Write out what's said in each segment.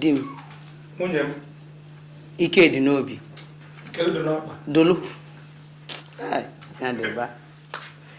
di m nwunye m ike dị n'obi dolu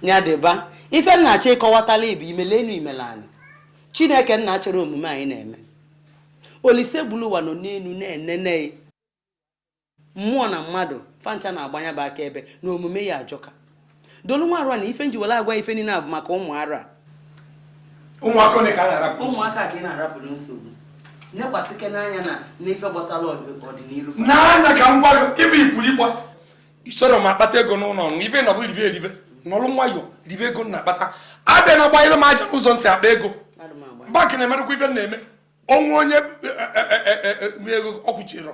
nya dịba ife m na-achọ ịkọwatala ị bụ imele enu imele anị chineke nna chọrọ omume anyị na-eme olisebuluwa nọ n'enu na-enene mmụọ na mmadụ fa ncha na-agba nya bụ akaebe na omume ya ajọka dolu nwa arụ a na ife m ji were agwa ife niile a bụ maka ụmụ arụ a ụmụaka ole ka a na-arapụ ụmụaka ka ị na-arapụ na nsogbu nekwasịke n'anya na n'ife gbasara ọdịnihu n'anya ka m gwa gị ife i kwuru ịgba isoro m akpata ego n'ụlọ ọrụ ife na ọ bụrụ rive erive nọlụ nwayọ rive ego m na-akpata abịana agbanyere m aja n'ụzọ m si akpa ego bank na-emerekwa ife na-eme onwe onye e, e, e, ego ọkwụchirọ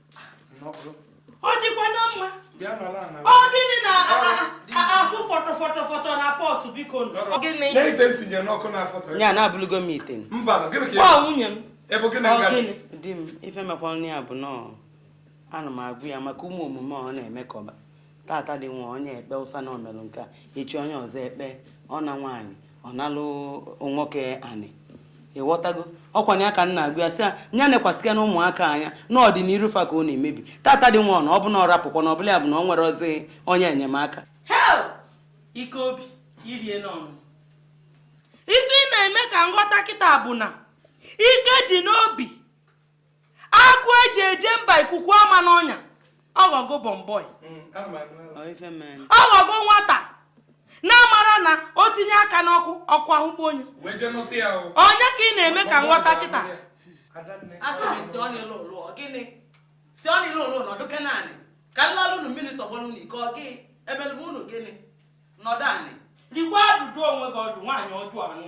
ọ dịkwa na mma ọ gịnị na-afụ fọtọ fọtọ fọtọ na pọtụ biko ya na-abụlụgo m ite nwunye m di m ife mekwanụ ya bụ nọọ ana m agwa ya maka ụmụ omume ọ na-eme ka ọba tata dị nwa onye ekpe ụsa na o melụ nke a echi onye ọzọ ekpe ọ na nwaanyị ọ nalụ nwoke anị ịghọtago ọkwa na ya ka m na-agwa ya sị ya nya nekwasịkenụ ụmụaka anya n'ọdịniru fa ka ọ na-emebi tata dị nwa na ọ bụ na ọ rapụkwa na ọ bụla ya bụ na o nwerọzi onye enyemaka hei ike obi irie n'ọnụ ife ị na-eme ka m ghọta kịta bụ na ike dị n'obi agụ eji eje mba ikuku ama n'ọnya ọghọgo bọmbọi ọghọgo nwata na-amara na o tinye aka n'ọkụ ọkụ ahụkpọ nya ọ nya ka ị na-eme ka m ghọta kịta si ọ nile ụlọ nọdụkene anị ka m lalụ unu mmiri tọgbọrọ unu iko ọ gị ebelebe unu gịnị nọdụ anị rigwa ajụjụ onwe gị ọdụ nwaanyị ọjọọ anụ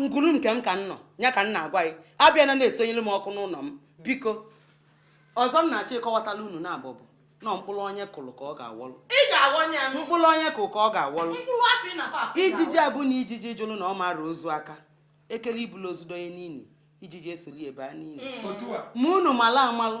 ngwuru nke m ka m nọ ya ka m na-agwa gị abịana na-esonyere m ọkụ n'ụnọ m biko ọzọ m na-achọ ịkọwatala unu na abụbụ na mkpụrụ onye kụrụ ka ọ ga-awọlụ mkpụrụ onye kụrụ ka ọ ga-awọlụ ijiji abụ na ijiji jụrụ na ọ ma-ara ozu aka ekele ibulu ozu donye n'ini ijiji esolu e baa n'ini mm. ma unu mala amalụ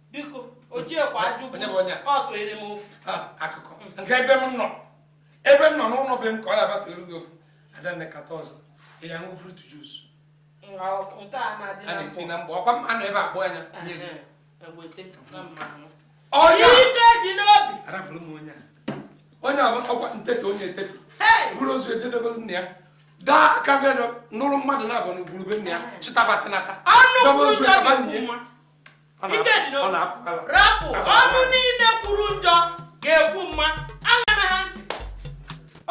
biko ojiekwa ajụgbu ọ tụere m ofu akụkọ nke ebe m nọ ebe m nọ n'ụlọ be m ka ọ na-abata elu gị ofu adanne kata ọzọ ya ṅụ fruit juice a na-eti na mgbe ọkwa mma nọ ebe abụọ anya nye gị onye arafụrụ m onye onye ọkwa nteta onye eteta bụrụ ozu ejedebere nna ya daa aka bịa nụrụ mmadụ na-abụ na ugburu be nna ya chịtaba chịnata dobe ozu ebe nna ya rapụ ọnụ niile kwuru njọ ga-ekwu mma aṅana ha ntị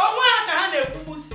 onwe ha ka ha na-ekwugbusi